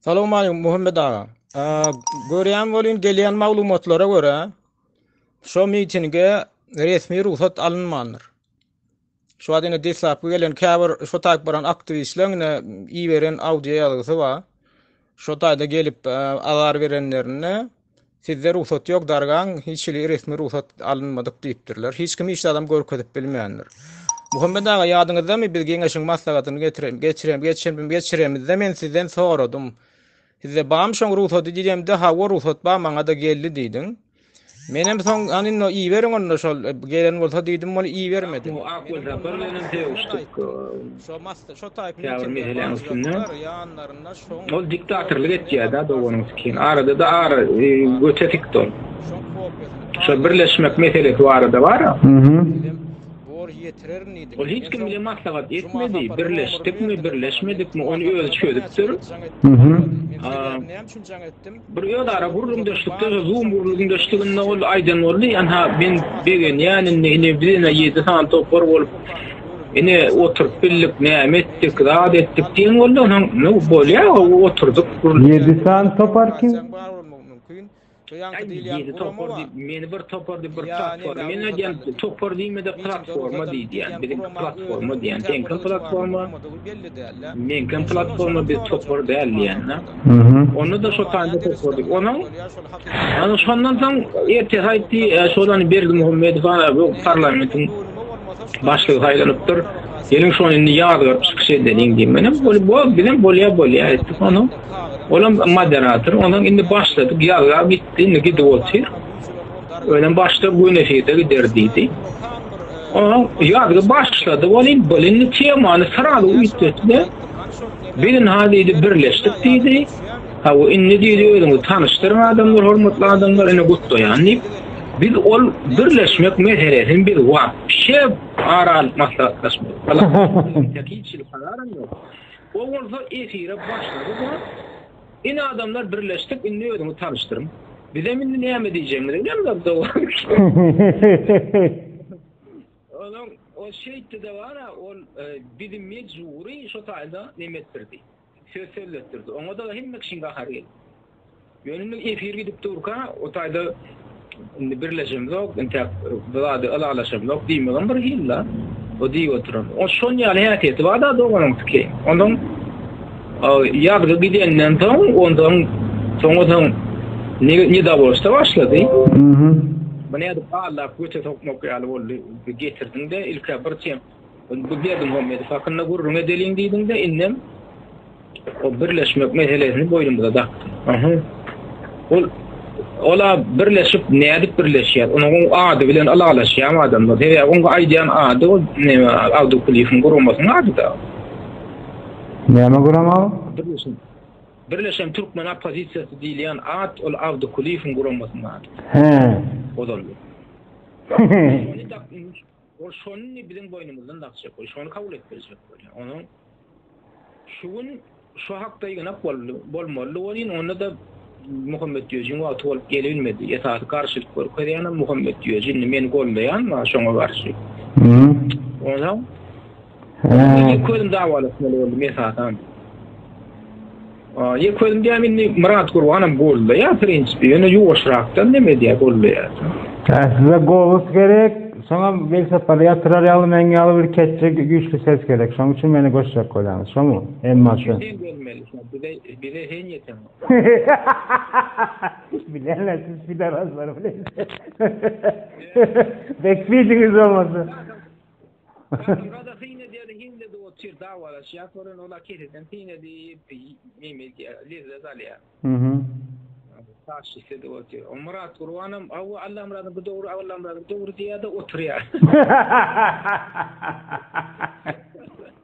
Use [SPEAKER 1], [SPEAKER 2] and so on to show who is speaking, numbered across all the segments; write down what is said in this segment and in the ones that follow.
[SPEAKER 1] Salam aleykum Muhammed aga. Görýän bolýan gelýän maglumatlara görä şu mitinge resmi rugsat alynmandyr. Şu wagt indi deslapky gelen käbir şu taýp baran aktiwistleriň indi iberen audio ýazgysy bar. Şu taýda gelip azar berenlerinde Sizde rugsat ýok, dargaň, hiç hili resmi rugsat alynmadyk diýipdirler. Hiç kim hiç zadam görkezip bilmändir. Muhammet aga, ýadyňyzdamy, biz Geňeşiň maslahatyny getirem, geçirem, geçirem, geçiremizde men sizden soradym. Sizde bamy şoň rugsady diýemde, hawa, rugsat bar, maňa-da geldi diýdiň. Menem soň, anynda iberiň onda şol, gelen bolsa diýdim, muny ibermediň. Akgül Sapar bilenem söýüşdik. Şo mas, şo taýpyň içinde, bar zatlar, ýanlarynda. Ol diktatorlyk etýärda doganyň sikin. Aradada ara göte sikdi ol. Şu birleşmek meselesi barada bar. Ol hiç kim bilen maslahat etmedi. Birleşdikmi, birleşmedikmi ony özi çözüpdir. Bir özara gürrüňdeşlikde we zoom gürrüňdeşliginde ol aýdan boldy, Ynha, men begenýän indi, ine, biz ine ýedi sany topar bolup, ine, oturyp bildik, näme etdik, zat etdik diýen boldy. Onsoň, nu, bolýa, gowy, oturdyk, gürrüň. Ýedi sany topar kim? Aý, ýedi topar diýip, meni bir topar diýip, bir platforma, men aýdýan, topar diýme-de, platforma diý diýýän, biziňki platforma diýýän, seňki platforma. Meňkem platforma biz topar däl diýende. Onda-da şo taýda topardyk. Onuň Ana şondan soň ertesi aýtdy, şolany Berdi Muhammedow bu parlamentiň başlygy saýlanypdyr. Geliň şony indi ýazgaryp çykyş edeliň diýip. Menem bol, bol, bizem bolýa, bolýa aýtdyk. Onuň olam moderator, onuň indi başladyk ýazgap gitdi, indi gidip otyr. Ölen başda gün efirde gider diýdi. Oňa ýazgy başlady, welin bilinli temany syraly üýtgetdi. Bilin ha diýdi, birleşdik diýdi. Ha we indi diýdi, özüňi tanyşdyryň adamlar, hormatly adamlar, ine gutlaýan diýip. Biz ol birleşmek meselesini biz wapşe ara alyp maslahatlaşmadyk. Ýa-da hiç hili kararam ýok. Ol bolsa efire başlady. Ine adamlar birleşdik indi özüňi tanyşdyryn. Bizem indi näme diýjegimizi bilemizok dowam. Olam o şeýtdi de bara ol e, bizi mejbury şo taýda neme etdirdi. Söz sözletdirdi. Oňa da hemme kişiň gahary geldi. Ýöne efir gidip durka o taýda Indi birleşemzok, intep bir zady ylalaşamzok diýmegem bir hil-la. O diýip oturan. O şon ýaly häsiýeti bar-da doganyňkyky. Ondan ýazgy gidenden soň, ondan soňa soň ne ne dawoşda başlady. Mhm. Bu nädip gallap göte sokmak ýaly boldy. Getirdiň-de ilk bir çem. Bu Berdimuhamedow hakynda gürrüň edeliň diýdiňde indem o birleşmek meselesini boýnumyza dakdy. Ol ola birleşip nädip birleşýär? Onuň ady bilen alalaşýan adamlar. Sebäbi onuň aýdýan ady o Awdukuliýewiň guramasynyň ady da. Näme gurama? Birleşen. Birleşen türkmen oppozisiýasy diýilýän at ol Awdukuliýewiň guramasynyň ady. He. Ozal. Ol şony biziň boýnumyzdan dakjak we şony kabul etdirjek bolýar. Onuň şu gün şu hakda ýygnak boldy, bolmalydy welin, onda-da Muhammet Düýejiň wagty bolup gelibilmedi. Esasy garşylyk görkezýänem Muhammet Düýeji. Indi meni goldaýan bar şoňa garşy. Onsoň Indi ýeke özüm dawalaşmaly boldum esasan. Ýeke özüm diýäm indi Myrat Gurbanam golda ýa prinsipi, ýöne ýuwaşrakdan näme diýä golda ýa. Ha size golos gerek, şoňa welsapary ýatyrar ýaly meň ýaly bir ketçi güýçli ses gerek. Şoň üçin meni goşjak bolýaňyz, şomy? Emma şu. Sen gelmeli, sen bize bize hen ýeten. Bilenler siz pidar azlar bilen. Bekbidiňiz olmasa. Kadyrgada syn edýär, himde de otyr, dawalaşýar, soran ola kesesem syn edip, neme edýär, lezzet alýar. Taşşyse de otyr. O Myrat Gurbanam, awa Allamyradyň bu dogry, Allamyradyň dogry diýýär-de, oturýar.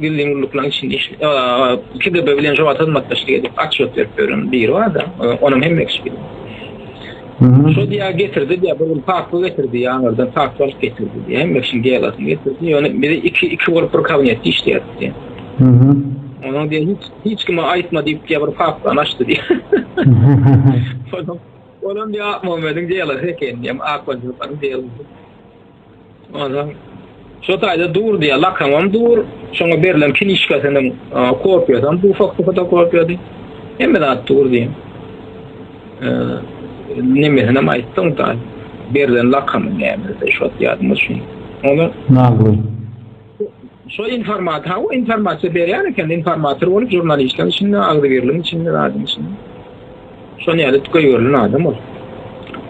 [SPEAKER 1] Gizlin gulluklaryň içinde işleýän. Ýa KGB bilen jogabat hyzmatdaşlyk edip, atçylyk berip ýören biri bar-da, onuň hem ekşi biri. Şo diýýär, getirdi diýýär, bir gün patyl getirdi, ýaňardan patyl alyp getirdi diýýär, hem ekşiň delasyny getirdi, ýöne biz iki, iki bolup bir kabinetde işleýärdik diýýär. Onuň diýýär, hiç, hiç kime aýtma diýip diýýär, bir papkany açdy diýýär. Olam, olam diýýär, Akmamediň delasy eken diýýär, Akmanjyklaryň delasy. Ondan şu taýda dur diýýär, lakamam dur, şoňa berlen kinişkasynyň kopiýasy hem bu fakty fotokopiýady. Hemme zat dur diýýär. Nemesini hem aýtdyň da, berlen lakamyň näme, şot ýadyma düşmedi. Ondan... Nagly. Şo informat ha o informasiýa berýän eken informator bolup žurnalistler içinde agzybirligiň içinde zadyň içinde. Şo näle tükeýerli adam ol.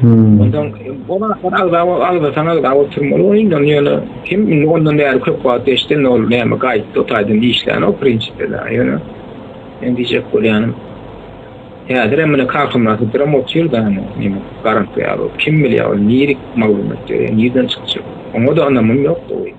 [SPEAKER 1] Hmm. Ondan o wagtlar agza o agza sana agza o türmeli o indi ýöne kim indi ondan bäri köp wagt geçdi indi ol näme gaýtdy o taýdan işlän o prinsipde da ýöne men diýjek bolýanym häzir hem mine kakymlaty birim otyr da näme garant ýaly kim bilýär ol nirik maglumat ýöne nirden çykjak oňa da anamym ýok